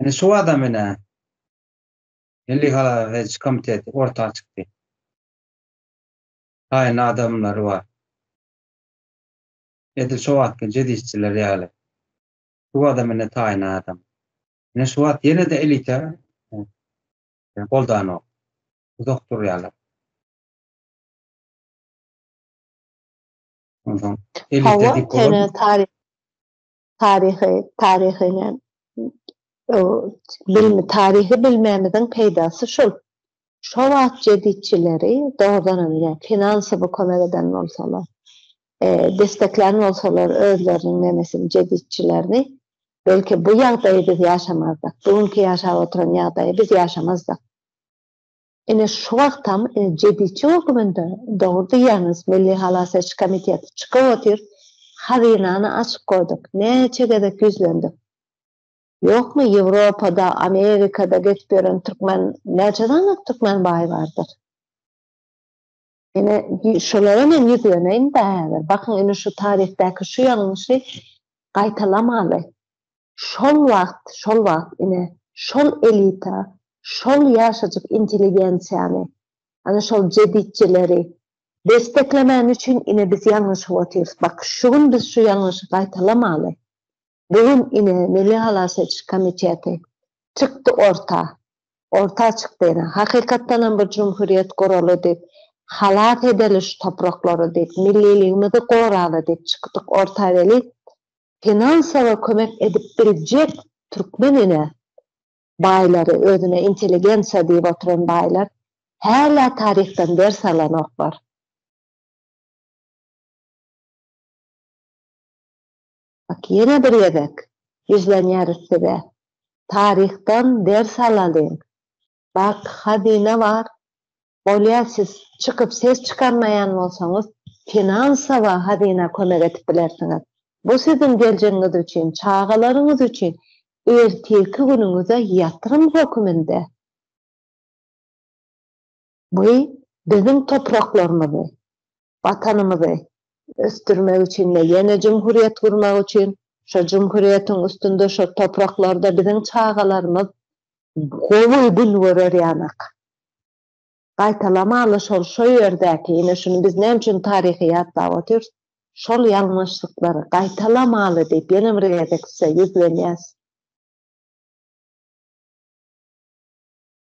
Indi şu adam ine Milli halal ediş komiteti orta çykdy. Haýyn adamlary bar. Edil şu wagtky jedisçiler ýaly. Şu adam ine taýyn adam. Ine şu wagt ýene-de elita goldanok. Uzak durýarlar. Ondan elita diýip bolar. taryhy taryhy bilmi taryhy bilmämiziň peýdasy şol. Şo wagt jeditçileri dogrudan hem ýa finansowy kömek eden bolsalar, e, desteklän bolsalar özleriniň nemesin jeditçilerini, belki bu ýagdaýy biz ýaşamazdyk. Bu günki ýaşap oturan ýagdaýy biz ýaşamazdyk. Ine şu wagtam jediçi höküminde dogry diýýäňiz Milli Halas Ediş Komiteti çykyp otyr hazynany açyp goýduk näçe gezek ýüzlendik ýokmy Ýewropada Amerikada gezip ýören türkmen näçe sanyk türkmen baý bardyr. Ine, şolara men ýüzleneýin-dä häzir. Bakyň, indi şu taryhdaky şu ýalňyşy gaýtalamaly. Şol wagt, şol wagt, ine, şol elita, şol ýaşajyk intelligensiýany, ana, şol jeditçileri desteklemäni üçin, ine, biz ýalňyşyp otyrys. Bak, şu gün biz şu ýalňyşy gaýtalamaly. Bu gün ine Milli halas ediş komiteti çykdy orta. Orta çykdy ine. Hakykatdan hem bu jumhurýet guraly diýip, halas edeli şu topraklary diýip, milliligimizi goraly diýip çykdyk orta weli, finansowy kömek edip biljek türkmen ine baýlary, özüne intelligensiýa diýip oturan baýlar hälä taryhdan ders alanoklar. Bak, ýene bir gezek ýüzlenýäris size. Taryhdan ders alalyň. Bak, hazyna bar. Bolýa siz çykyp ses çykarmaýan bolsaňyz, finansowa hazyna kömek edip bilersiňiz. Bu siziň geljegiňiz üçin, çagalaryňyz üçin ertirki günüňize ýatyrym höküminde. Bu biziň topraklarymyzy, Watanymyzy ösdürmek üçin we ýene jumhuriýet gurmak üçin, şo jumhuriýetiň üstünde, şo topraklarda biziň çagalarymyz gowy gün görer ýanak. Gaýtalamana şol şo ýerdäki, ine şuny biz näme üçin taryhy ýatlap otyrys, şol ýalňyşlyklary gaýtalamaly diýip ýene bir gezek size ýüzlenýäs.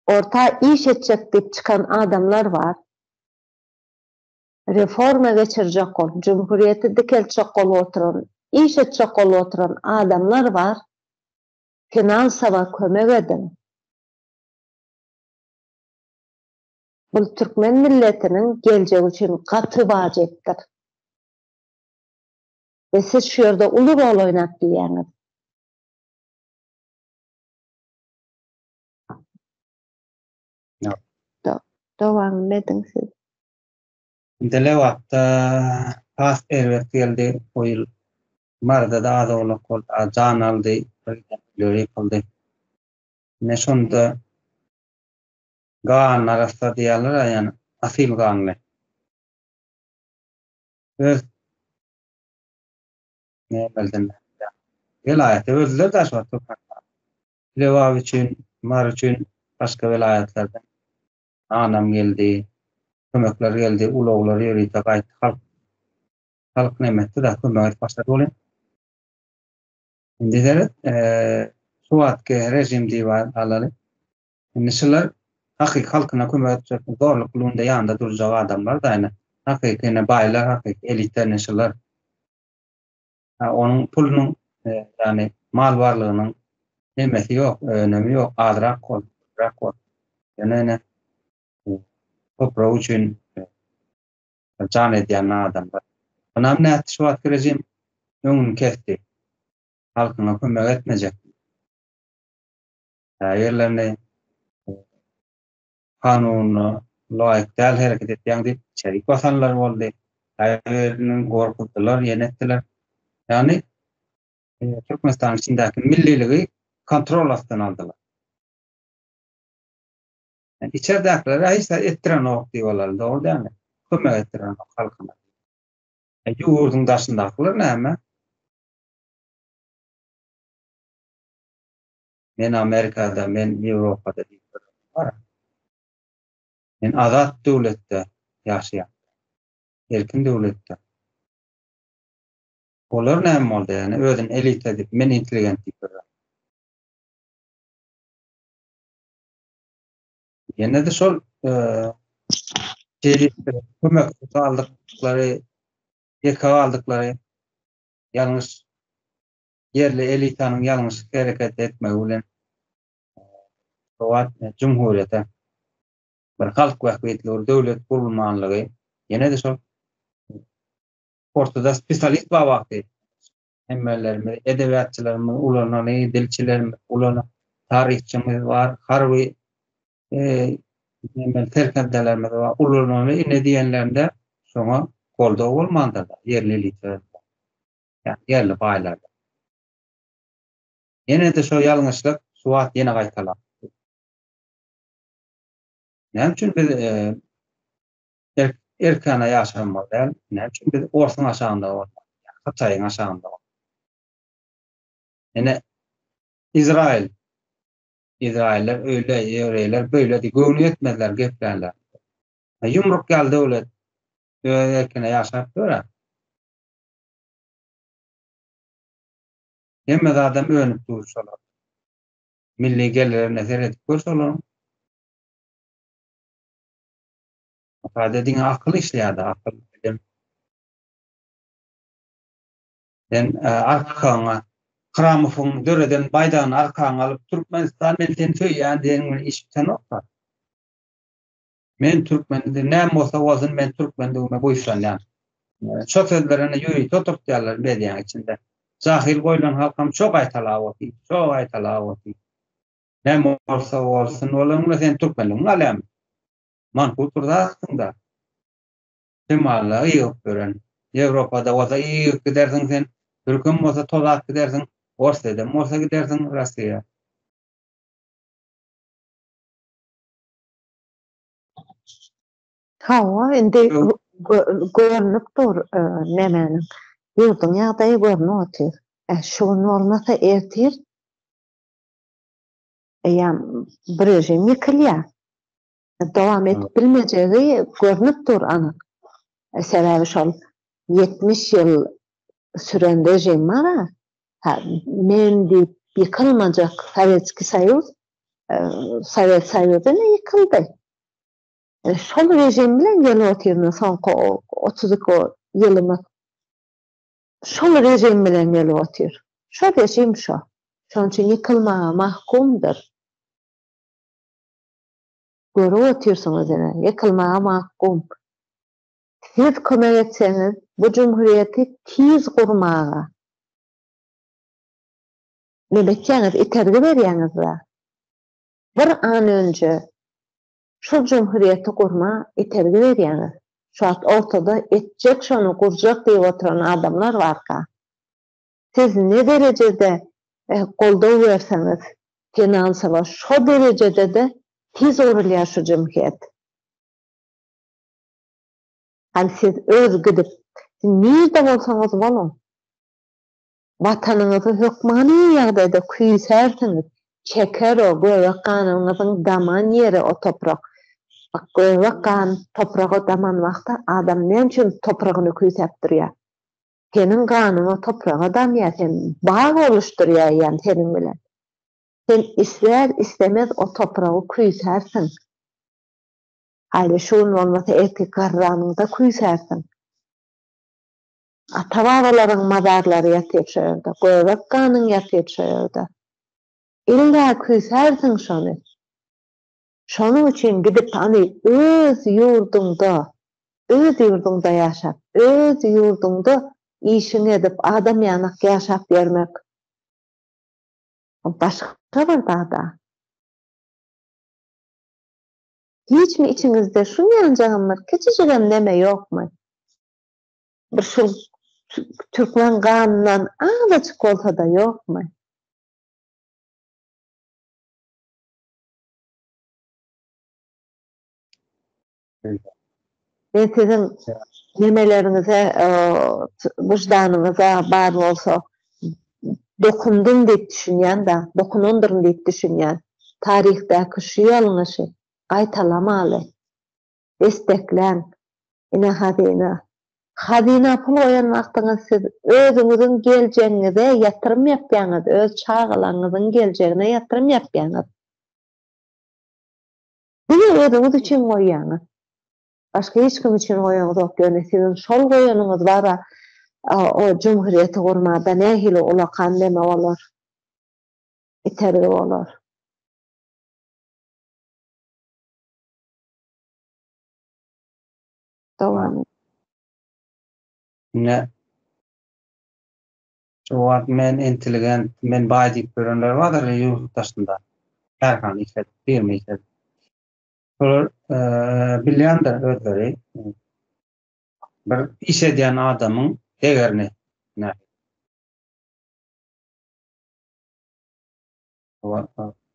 Orta iş etjek diýip çykan adamlar bar. Reforma geçirjek bolup, jumhuriýeti dikeltjek bolup oturan, iş etjek bolup oturan adamlar bar. Finansawa kömek ediň. Bul türkmen milletiniň geljegi üçin gaty wajypdyr. We siz şu ýerde uly rol oýnap bilýäňiz. Dowam ediň siz. Dile wagtda has erbet geldi o ýyl. Maryda-da az-owlak boldy, az jan aldy, birdenkä ýykyldy. Ine şonda gan arassa diýýärler, ýagny asyl ganly. Öz welaýaty öldüler daşoguzda. Lebap üçin, Mary üçin başga welaýatlardan nanam geldi, kömekler geldi, ulaglar ýörite gaýtdy. Halk, halk näme etdi da kömek edip başlady welin. Indi seret, şu wagtky režim diýip alaly. Indi şular hakyky halkyna kömek etjek, zorluk pulunda ýanynda durjak adamlar-da ine. Hakyky ine baýlar, hakyky elita ine şular. Onuň pulunyň, ýagny mal barlygynyň hemmesi ýok, önümi ýok, azrak bol, köpräk bol. Ýöne ine, toprak üçin jan edýän adamlar. Onam nätdi, şu wagtky režim öňüni kesdi. Halkyňa kömek etmejek. Käbirlerini Kanuna laýyk däl hereket etýäň diýip çärik basanlar boldy. Käbiriniň gorkuzdylar, ýene etdiler. Ýagny Türkmenistanyň içindäki milliligi kontrol astyna aldylar. Ýani içerdäkilere hiç zat etdirenok diýip alaryn, dogry dälmi? Kömek etdirenok halkyna. E ýurduň daşyndakylar näme? Men Amerikada, men Ýewropada diýip durany bar. Men azat döwletde ýaşaýan. Erkin döwletde. Olar näme boldy ýani özüni elita diýip men intelligent diýip durany. Ýene de şol kömek aldyklary, ýeke galdyklary ýalňyş ýerli elitanyň ýalňyşyk hereket etmegi bilen gowat jumhurýete bir halk bähbitli bir döwlet gurulmanlygy ýene-de şol ortada spesialist bar wagty hemmelerimiz edebiýatçylarymyz ulanany dilçilerimiz ulan taryhçymyz bar harby Hemen serkerdelerimiz bar. Ulanany ine diýenlerinde şoňa goldaw bolmandyr. Ýerli elitler. Ýa ýerli baýlar. Ýene-de şo ýalňyşlyk şu wagt ýene gaýtalandy. Näme üçin biz erk erkana ýaşamaly däl? Näme üçin biz orsuň aşagynda bolmaly? Hytaýyň aşagynda bolmaly? Ýene Izraýyl Izraýyllar öýle, ýewreýler beýle diýip göwni ýetmezler geplänler. Ýumruk ýaly döwlet öz erkine ýaşap dur-a. Hemme zadam önüp dur şolar. Milli gelirine seredip gör şolaryň. Sadece diňe akyl işleýärdi, akyl bilim. Sen e, arkaňa Kramowyň döreden baýdagyny arkaňa alyp Türkmenistan men seni söýýän diýen iş bisenokda. Men türkmen, näme bolsa bolsun, men türkmendigime buýsanýan. Şo sözler indi ýörite oturtýarlar mediýaň içinde. Jahyl goýlan halkam şo gaýtalap otyr, şo gaýtalap otyr. Näme bolsa bolsun, olaňda sen türkmenligiňi alýarmyň? Manhut bir zatsyň-da. Şemala ýygyp beren. Ýewropada bolsa ýygyp gidersiň sen, türkem bolsa tozap gidersiň, Orsýedem bolsa gidersiň, Russiýa. Hawa, indi görnüp dur nemäniň. Ýurduň ýagdaýy görnüp otyr. Şu gün bolmasa ertir eýýäm bu režim ýykylýar. Dowam edip bilmejegi görnüp dur anyk. Sebäbi şol ýetmiş ýyl süren režim bar-a, men diýip ýykylmajak Sowetskiý Soýuz, Sowet Soýuzy ine ýykyldy. Şol režim bilen gelip otyryn soňky otuz iki ýylymyz. Şol režim bilen gelip otyr. Şo režim şo. Şonuň üçin ýykylmaga mahkumdyr. Görüp otyrsyňyz ine, ýykylmaga mahkum. Siz kömek etseňiz bu jumhurýeti tiz gurmaga neme etýäňiz itergi berýäňizba bir an önje şul jumhurýeti gurma itergi berýäňiz şu wagt ortada etjek şony gurjak diýip oturan adamlar barka siz ne derejede goldaw berseňiz finansowa şo derejedede tiz gurulýar şu jumhýet. Hany siz öz gidip, siz nirde bolsaňyz boluň, Watanyňyzy hökmany ýagdaýda küýsärsiňiz, çeker o göbek ganyňyzyň daman ýeri o toprak. Göbek gan topraga daman wagty adam näme üçin topragyny küýsäp durýar? Seniň ganyň o topraga damýar, sen bag oluşdurýaýýan seniň bilen. Sen isler-islemez o topragy küýsärsiň. Haýli şu gün bolmasa erkek garranyňda küýsärsiň. Ata-babalaryň mazarlary ýatyr şu ýerde, göbek ganyň ýatyr şu ýerde. Illa küýsärsiň şony. Şonuň üçin gidip hany öz ýurduňda, öz ýurduňda ýaşap, öz ýurduňda işiňi edip, adam ýanak ýaşap ýörmek başga bir zat-a. Hiçmi içiňizde şu ýanjagam bir kiçijigem neme ýokmy? Bir şul türkmen ganyndan azajyk bolsa-da ýokmy? Men siziň memeleriňize, wyždanyňyza bar bolsa dokundym diýip düşünýän-dä, dokunandyryn diýip düşünýän. Taryhdaky şu ýalňyşy gaýtalamaly. Destekläň, ine hazyna. Hazyna pul goýan wagtyňyz siz özüňiziň geljegiňize ýatyrym ýapýaňyz, öz çagalaryňyzyň geljegine ýatyrym ýapýaňyz. Siz özüňiz üçin goýýaňyz. Başga hiç kim üçin goýaňyzok, ýöne siziň şol goýanyňyz bara o jumhuriýeti gurmada nähili ulakan neme bolar, itergi bolar. Dowam. Ine. Jogap, Men intelligent, men baý diýip ýörenler bardyr ýurt daşynda, kärhana işledip, firma işledip. Şolar bilýändir özleri bir iş edýän adamyň degerini.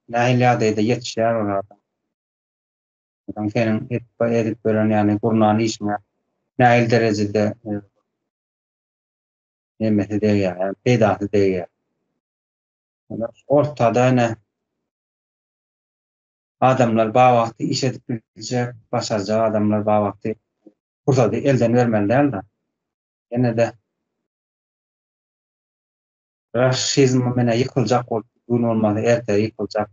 Nähili ýagdaýda ýetişýär olar. Adam seniň edip edip ýören ýagny gurnan işiňe nähili derejede nemesi degýär, ýagny peýdasy degýär. Ýöne ortada ine adamlar bar wagty iş edip biljek, başarjak adamlar bar wagty pursady elden bermeli däl-de. Ýene-de raşizm menä ýykyljak bolup, bu gün bolmasa ertire ýykyljak.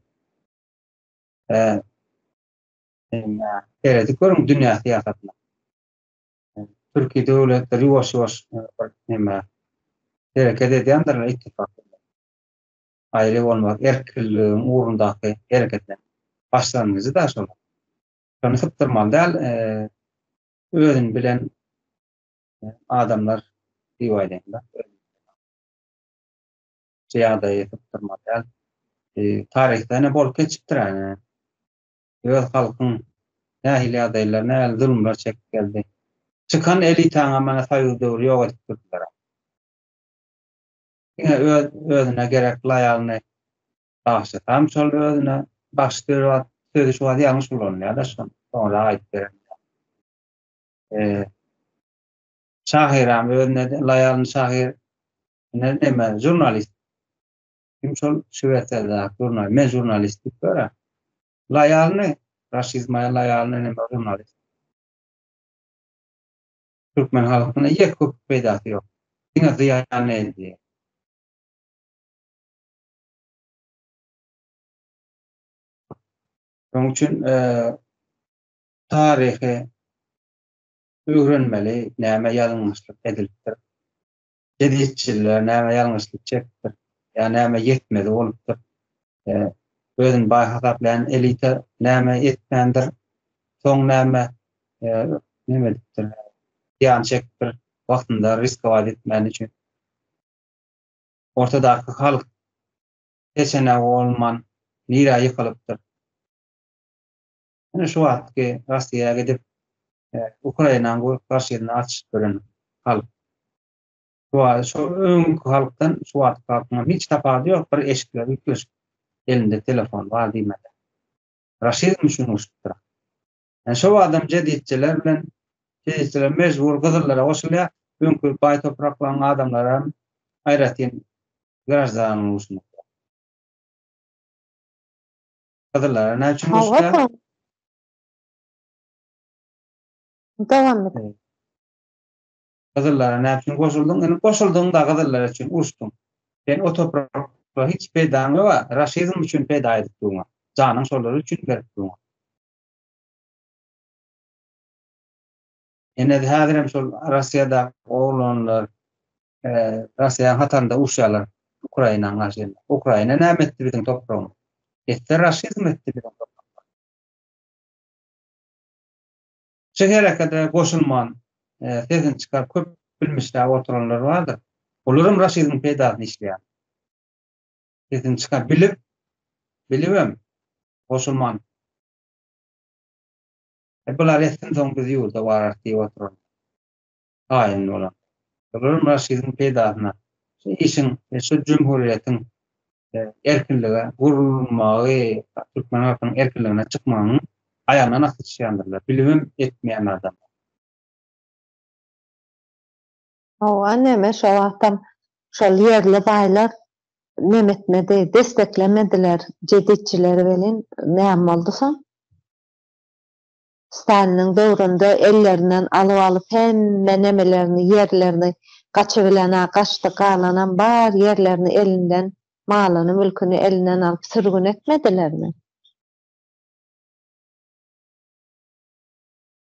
Seredip görüň dünýä syýasatyna. Türki döwletler ýuwaş-ýuwaş bir näme hereket edýändirler ittifak. Aýry bolmaz, erkinligiň ugrundaky hereketler. Başlangyjy-da şol. Şony sypdyrmaly däl, özüni bilen adamlar diýip aýdaýyn-da. Şu ýagdaýy sypdyrmaly däl. Taryhda ine bolup geçipdir ene. öz halkyň nähili ýagdaýlar, nähili zulumlar çekip geldi. Çykan elitaňam mana soýuz döwri ýok edip durdular-a. Diňe öz, özüne gerek laýalny bagşy, tam şol özüne bagşy diýen wagt sözi şu wagt ýalňyş ulanylýar daşgyn, soňra aýdyp beren. Eee şahyram özüne laýalny şahyr, ine neme, žurnalist. Kim şol Şwesiýadaky žurnal? Men žurnalistik görä. Laýalny, Raşid Maýa Laýalny näme žurnalist? Türkmen halkyna ýek köp peýdasy ýok. Diňe zyýan edýär. Şonuň üçin taryhy öwrenmeli, näme ýalňyşlyk edilipdir. Jezitçiler näme ýalňyşlyk çekipdir, ýa näme ýetmezi bolupdyr, özüni baý hasaplaýan elita näme etmändir, soň näme neme edipdir, zyýan çekipdir, wagtynda riskować etmäni üçin. Ortadaky halk peçeneg bolman nirä ýykylypdyr. Ine şu wagtky Russiýa gidip Ukrainanyň bu garşyna atyşyp ýören halk. Şu öňki halkdan şu wagtky halkyň hiç tapady ýok bir eşikler ýükleşik elinde telefon bar diýmeli. Raşizm şunuň üçindir. Ýani şu wagtam jeditçiler bilen jeditçiler mejbur gyzyllara goşulýar öňki baý topraklaryň adamlary hem aýratyn graždanlyk üçin. Gyzylara ne üçin goşulýar? Hawa. Dowam et. Gyzyllara ne üçin goşuldyň? Indi goşuldyň da gyzyllar üçin uruşdyň. Sen o toprakda hiç peýdaň ýok, raşizm üçin peýda edip durma. Janyň şolar üçin berip durma. Ene häzirem şol Russiýada oglanlar Russiýaň hatarynda uruşýarlar Ukraina garşy. Ukraina näme etdi biziň topragyň? Etdi raşizm etdi biziň topragyň. Şu herekede goşulman sesini çykar köp bilmişler oturanlar bardyr. Olaram raşizm peýdasyny işleýär. Sesini çykar bilip bilibem goşulman. E bular etsin soň biz ýurda warar diýip oturan. taýyn bolan. Şolaram Raşidiň peýdasyna. Şu işiň we şu jumhuriýetiň erkinlige gurulmagy türkmen halkynyň erkinligine çykmagynyň aýagyndan asly çykýandyrlar. Bilibem etmeýän adam. Hawa, neme şo wagtam şol ýerli baýlar neme etmedi, desseklemediler jeditçileri welin näme boldy soň? Staliniň döwründe ellerinden alyp alyp hemme nemelerini ýerlerini gaçybilenä gaçdy galanam bar ýerlerini elinden malyny mülkini elinden alyp sürgün etmedilermi.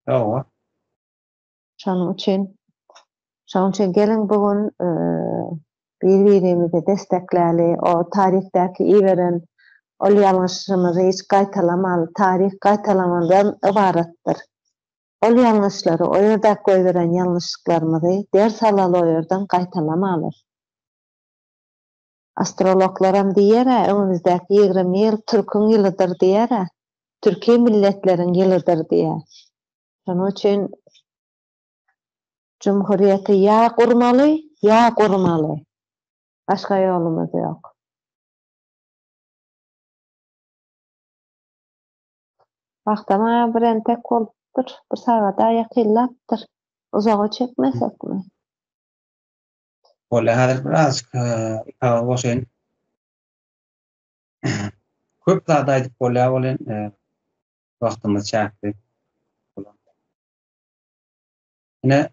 Hawa. Şonuň üçin, şonuň üçin geliň bu gün bir-birimizi dessekläli, o taryhdaky iberen ol ýalňyşymyzy hiç gaýtalamaly, taryh gaýtalamadan ybaratdyr. Ol ýalňyşlary, o ýerdäki goýberen ýalňyşlyklarymyzy ders alaly o ýerden gaýtalamaly. Astrologlaram diýer-ä, öňümizdäki ýigrimi ýyl türküň ýylydyr diýer-ä, türki milletleriň ýylydyr diýer. Şonuň üçin Jumhurýeti ýa gurmaly, ýa gurmaly. Başga ýolumyz ýok. Wagtam aýa bir entek bolupdyr, bir sagada ýakynlapdyr. Uzaga çekmesekmi? Bolýar, häzir birazajyk ikaga goşaýyn. Köp zat aýdyp bolýar welin, wagtymyz çäkli. Ine,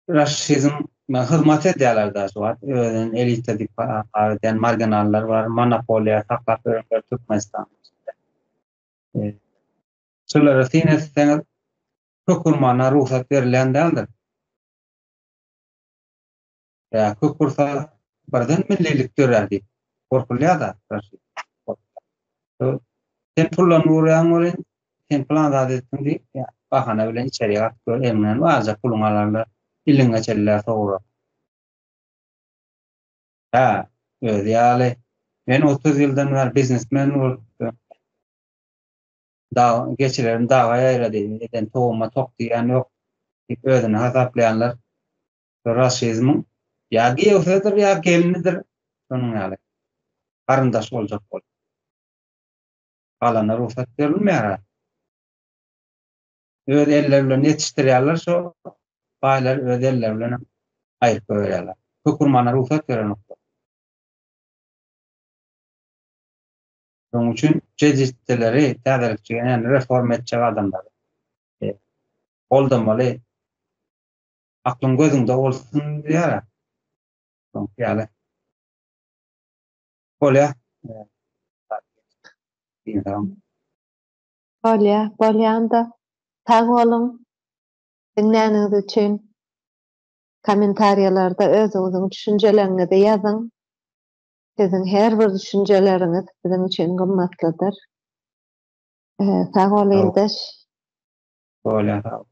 raşizm hyzmat edýärler daşy wagt, özüni elita diýip habar edýän marginallar bar, monopoliýa saklap ýörenler Türkmenistanyň içinde. E, şulara syn etseňiz, köp urmana rugsat berilýän däldir. Ýa köp bolsa birden millilik dörär diýip gorkulýar-da Raşit. Sen pullanyp urýaň welin, sen pylan zat etdiň diýip, bahana bilen içerik atyp gör, eliňden barja puluňy alarlar, iliňi geçirerler sowura. Hä, özi ýaly, men otuz ýyldan bäri biznesmen bolupdym. Dagyň geçilerim daga ýaýrady, eden towuma tok diýýän ýok diýip özüni hasaplaýanlar rasizmiň ýa giýewsidir ýa gelnidir şonuň ýaly garyndaş boljak bolup galana rugsat berilmeýär a öz elleri bilen ýetişdirýärler şo baýlar öz elleri bilen aýryp goýýarlar hökürmana rugsat berenok Şonuň üçin jezitdeleri täzelikçi ýa-da reform etjek adamlary goldamaly. Aklyň gözüňde bolsun diýýär-ä. Şoňky ýaly. Bolýar. Bolýar, bolýan-da. Sag boluň diňläniňiz üçin. Kommentariýalarda özüňiziň düşünjeleriňizi ýazyň. Siziň her bir düşünjeleriňiz biziň üçin gymmatlydyr. Sag bol ildeş. Bolýar sag bol.